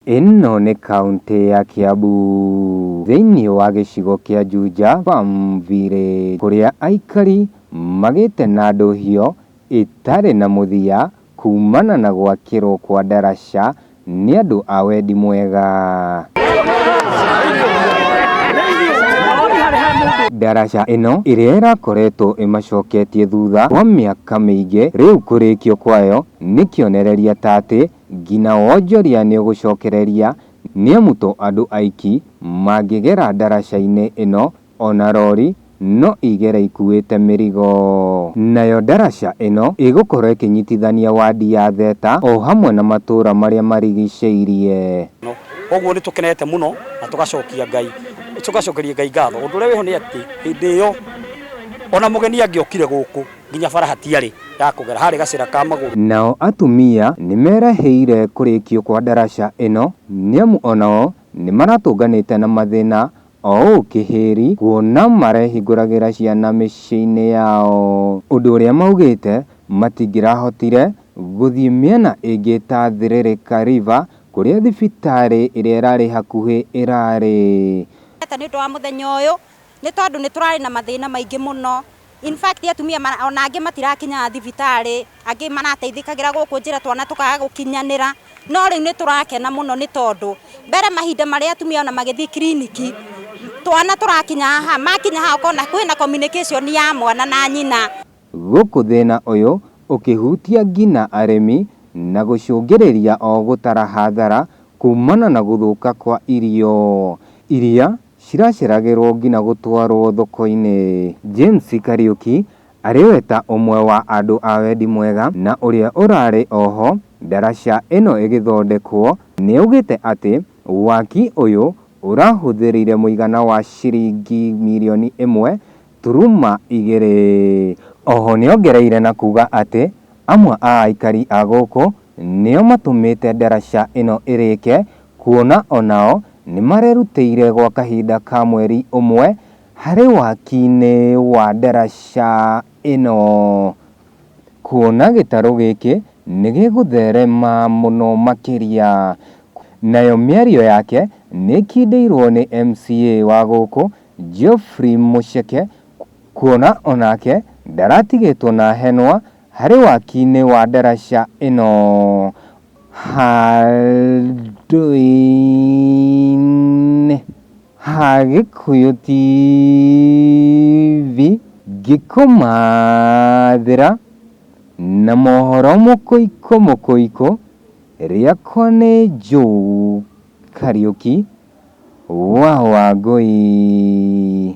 Ĩno nĩ kauntĩ ya Kiambu thĩinĩ wa gĩcigo kĩa Juja Farm Village kũrĩa aikari magĩte na ndũhio ĩtarĩ na mũthia kumana na gwakĩrwo kwa ndaraca nĩ andũ a wendi mwega. Ndaraca ĩno ĩrĩa ĩrakoretwo ĩmacoketie thutha kwa mĩaka mĩingĩ rĩu kũrĩkio kwayo nĩ kĩonereria ta atĩ Ngina wonjoria nĩũgũcokereria, nĩamu to andũ aiki mangĩgera ndaraca-inĩ ĩno, o na rori no igere ikuĩte mĩrigo. Nayo ndaraca ĩno ĩgũkorwo ĩkĩnyitithania wadi ya Theta o hamwe na matũra marĩa marigicĩirie. Kwoguo nĩ tũkenete mũno na tũgacokia Ngai, tũgacokeria Ngai ngatho. Ũndũ ũrĩa wĩho nĩ atĩ, hĩndĩ ĩyo, o na mũgeni angĩokire gũkũ, Nginya bara hatiarĩ ya kũgera, harĩ gacĩra ka magũrũ. Nao atumia nĩmerahĩire kũrĩkio kwa ndaraca ĩno nĩamu onao nĩmaratũnganĩte na mathĩna oũũ kĩhĩri kuona marehingũragĩra ciana mĩciĩ-inĩ yao ũndũ ũrĩa maugĩte matingĩrahotire gũthiĩ mĩena ĩngĩ ta Thiririka River kũrĩa thibitarĩ ĩrĩa ĩrarĩ hakuhĩ ĩrarĩ. Nĩ ũndũ wa mũthenya ũyũ Nĩ tondũ nĩ tũrarĩ na mathĩna maingĩ mũno, in fact atumia ona angĩ matirakinyaga thibitarĩ, angĩ marateithĩkagĩra gũkũ njĩra twana tũkaga gũkinyanĩra, no rĩu nĩ tũrakena mũno nĩ tondũ mbere mahinda marĩa atumia ona magĩthiĩ kiriniki, twana tũrakinya haha, makinya haha ũkona kwĩna communication ya mwana na nyina. Gũkũ thĩna ũyũ ũkĩhutia ngina arĩmi na gũcũngĩrĩria o gũtara hathara kumana na gũthũka kwa irio iria ciraceragĩrwo ngina gũtwarwo thoko-inĩ. James Kariuki arĩ we ta ũmwe wa andũ a wendi mwega na ũrĩa ũrarĩ oho ndaraca ĩno ĩgĩthondekwo nĩaugĩte atĩ waki ũyũ ũrahũthĩrire mũigana wa ciringi mirioni ĩmwe turuma igĩrĩ. Oho nĩongereire na kuga atĩ amwe a aikari a gũkũ nĩo matũmĩte ndaraca ĩno ĩrĩke kuona o nao nĩ marerutĩire gwa kahinda ka mweri ũmwe harĩ waki-inĩ wa ndaraca ĩno kuona gĩtarũ gĩkĩ nĩ gĩgũtherema mũno makĩria. Nayo mĩario yake nĩ ĩkindĩirwo nĩ MCA wa gũkũ Geoffrey Mũceke kuona o nake ndaratigĩtwo na henwa Harĩ wakinĩ wa ndaraca ĩno handũinĩ ha Gĩkũyũ TV ngĩkũmathĩra na mohoro mũkũikũ mũkũikũ, rĩakwa nĩ Joe Kariũki wa Wangũi.